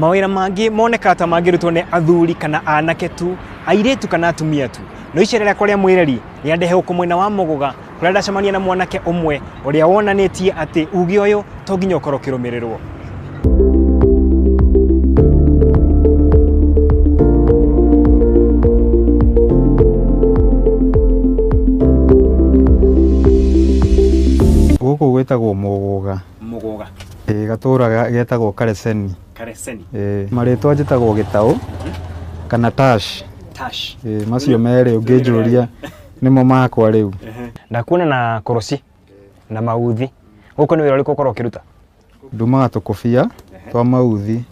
mawĩra mangĩ monekaga ta mangĩrutwo nĩ athuri kana anake tu airĩtu kana atumia tu no icera rĩakwa rĩa mwĩreri rĩandehe gũkũ mwena wa mũgũga kũrĩa ndacemania na mwanake ũmwe ũrĩa wonanĩtie atĩ uge ũyũ to nginya ũkorwo ũkĩrũmĩrĩrwo gũkũ gwĩtagwo mũgũga mũgoga Ĩĩ gatũũra ga- getagwo Kareseni. kareseni Ĩĩ. Marĩtwa njĩtagwo Gĩtaũ kana Tash. tash Ĩĩ, macio merĩ ũngĩnjũria nĩmo makwa rĩu. ndakuona na koroci na mauthi gũkũ nĩ wĩra ũrĩkũ ũkorwo ũkĩruta Ndumaga tũkũbia twa mauthi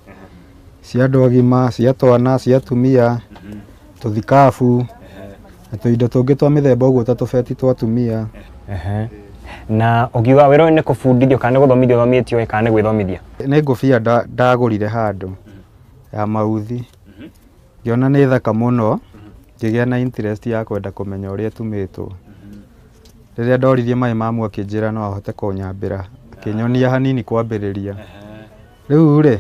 cia andũ agima, cia twana, cia atumia, tũthikabu, na tũindo tũngĩ twa mĩthemba ũguo ta tũbeti twa atumia. Na ũkiuga wĩra ũyũ nĩ kũbundithio kana nĩ gũthomithio ũthomithĩtio ĩ kana nĩ gwĩthomithia? Nĩ ngũbia ndagũrire handũ ya mauthi, ngĩona nĩ thaka mũno, ngĩgĩa na interest ya kwenda kũmenya ũrĩa ĩtumĩtwo. Rĩrĩa ndoririe Maĩ Mamu akĩnjĩra no ahote kũnyambĩra, akĩnyonia hanini kwambĩrĩria. Rĩu rĩ,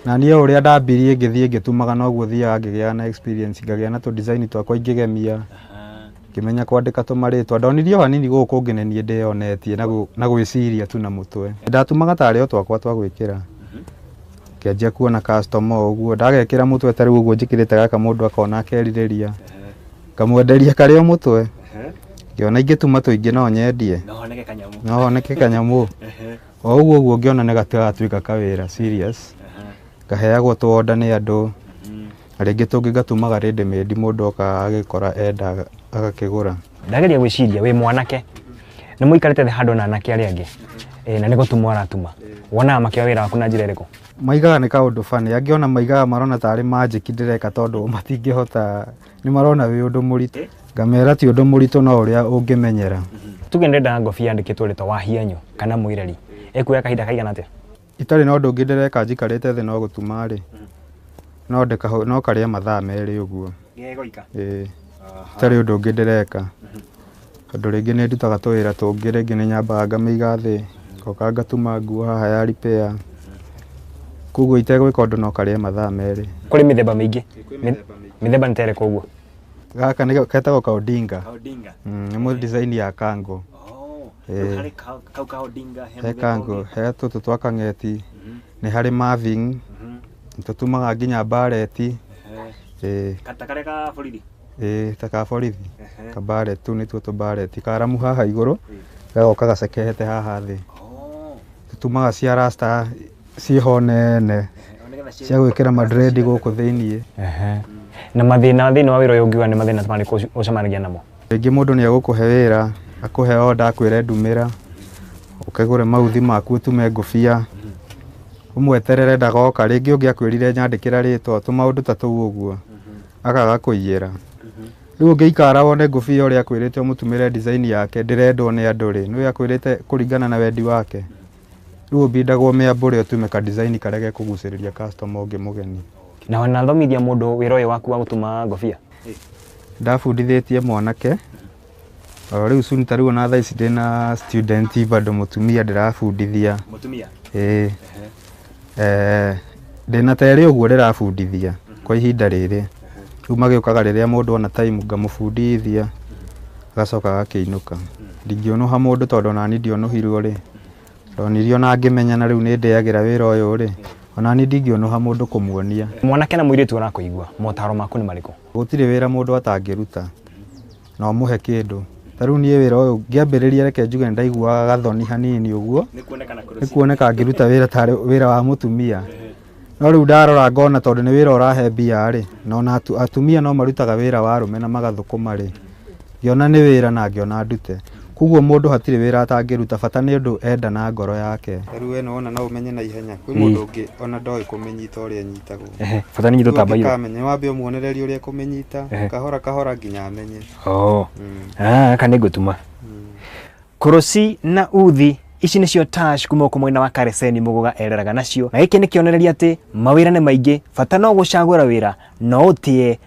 na niĩ o ũrĩa ndambirie ngĩthiĩ ngĩtumaga noguo thiaga ngĩgĩaga na experience ngagĩa na tũ design twakwa ingĩgemia, ngĩmenya kwandĩka tũmarĩtwa. Ndonirie o hanini gũkũ kũngĩ nĩ niĩ ndĩyonetie na gwĩciria tu na mũtwe. Ndatumaga tarĩ o twakwa twa gwĩkĩra, ngĩanjia kuona customer o ũguo, ndagekĩra mũtwe ta rĩu ũguo njĩkĩrĩte gaka mũndũ akona akerirĩria, ngamwenderia karĩ o mũtwe, ngĩona ingĩtuma tũingĩ no nyendie, no honeke kanyamũ. o ũguo ũguo ngĩona nĩ gatatuĩka kawĩra serious ngaheagwo tũ order nĩ andũ na rĩngĩ tũngĩ ngatumaga ready made mũndũ oka agĩkora enda agakĩgũra ndageria gwĩciria wĩ mwanake nĩ mũikarĩte thĩ handũ na anake arĩa angĩ Eh, na nĩ gũtuma ũratuma wonaga makĩoya wĩra waku na njĩra ĩrĩkũ maigaga nĩ kaũndũ funny angĩona maigaga marona tarĩ magic ndĩreka tondũ matingĩhota nĩ marona wĩ ũndũ mũritũ ngamera ti ũndũ mũritũ no ũrĩa ũngĩmenyera tuge nĩ ndenda ngobi yandĩkĩtwo rĩtwa wahianyũ kana mwĩreri ĩkuoya kahinda kaigana atĩa itarĩ na ũndũ ũngĩ ndĩreka njikarĩte thĩ no gũtuma rĩ no ndĩkahũ- no karĩa mathaa merĩ ũguo Ĩĩ. itarĩ ũndũ ũngĩ ndĩreka Tondũ rĩngĩ nĩ ndutaga tũwĩra tũngĩ, rĩngĩ nĩ nyambaga ngamĩiga thĩ, ngoka ngatuma nguo haha ya repair, koguo itegwĩka ũndũ no karĩe mathaa merĩ. Kũrĩ mĩthemba mĩingĩ. Mĩthemba nĩ ta ĩrĩkũ ũguo? Gaka nĩ getagwo ka Odinga. Nĩ mũ design ya kango. He kango, he tũtũ twa kang'eti, nĩ harĩ maving, nĩ tũtumaga nginya mbareti. Ĩĩ ta ka borithi ka barret tũu nĩtuo tũ barret karamu haha igũrũ gagoka gacekehete haha thĩ tũtumaga cia rasta ciĩ ho nene cia gwĩkĩra ma dread gũkũ thĩiniĩ Ehe. na mathĩna thĩinĩ wa wĩra ũyũ ũngiuga nĩ mathĩna marĩkũ ũci- ũcemanagia namo rĩngĩ mũndũ nĩ egũkũhe wĩra akũhe oda akwĩre ndumĩra ũkagũre mauthi maku ũtume ngũbia ũmweterere ndagoka rĩngĩ ũngĩ akwĩrire nyandĩkĩra rĩtwa tũmaũndũ ta tũu ũguo akaga kũiyĩra rĩu ũngĩikara wone ngũbia ũrĩa akwĩrĩte ũmũtumĩre design yake ndĩrendwo nĩ andũ rĩ nĩwe akwĩrĩte kũringana na wendi wake rĩu ũbindagwo mĩambũre ũtume ka design karĩa gekũgucĩrĩria customer ũngĩ mũgeni Na wanathomithia mũndũ wĩra ũyũ waku wa gũtuma ngobia? ndabundithĩtie mwanake O rĩu cuni ta rĩu ona thaa ici ndĩ na student bado mũtumia ndĩrabundithia Mũtumia. ĩĩ eh, ndĩ na terĩ ũguo ndĩrabundithia kwa ihinda rĩrĩ rĩu magĩũkaga rĩrĩa mũndũ ona time ngamũbundithia agacoka agakĩinũka ndingĩũnũha mũndũ tondũ onani ndionũhirwo rĩ ndonirio na ngĩmenya na rĩu nĩ ndĩagĩra wĩra ũyũ rĩ onani ndingĩũnũha mũndũ kũmuonia Mwanake na mũirĩtu arakũigua, motaro maku nĩ marĩkũ? Gũtirĩ wĩra mũndũ atangĩruta na ũmũhe kĩndũ. Ta rĩu niĩ wĩra ũyũ ngĩambĩrĩria reke njuge nĩ ndaiguaga gathoni hanini ũguo, nĩ kuoneka ngĩruta wĩra ta wĩra wa mũtumia. No rĩu ndarora ngona tondũ nĩ wĩra ũrahe mbia rĩ, na ona atumia no marutaga wĩra wa arũme na magathũkũma rĩ. Ngĩona nĩ wĩra na ngĩona ndute. Kwoguo mũndũ hatirĩ wĩra atangĩruta bata nĩ ũndũ enda na ngoro yake. Ta rĩu ĩno wona no ũmenye na ihenya. Kwĩ mũndũ ũngĩ ona ndoĩ kũmĩnyita ũrĩa ĩnyitagwo. Ehe, bata nĩ inyitwo ta mbairũ. Ũngĩkamenya nĩ wambe ũmuonererie ũrĩa ekũmĩnyita Ehe. kahora kahora nginya amenye. Oo. Mm. Ah, aka nĩ ngũtuma. Kũrũci na uthi ici nĩcio Tash kuma gũkũ mwena wa Kareseni Mũgũga ereraga nacio na gĩkĩ nĩ kĩonereria atĩ mawĩra nĩ maingĩ bata no gũcagũra wĩra na ũtĩe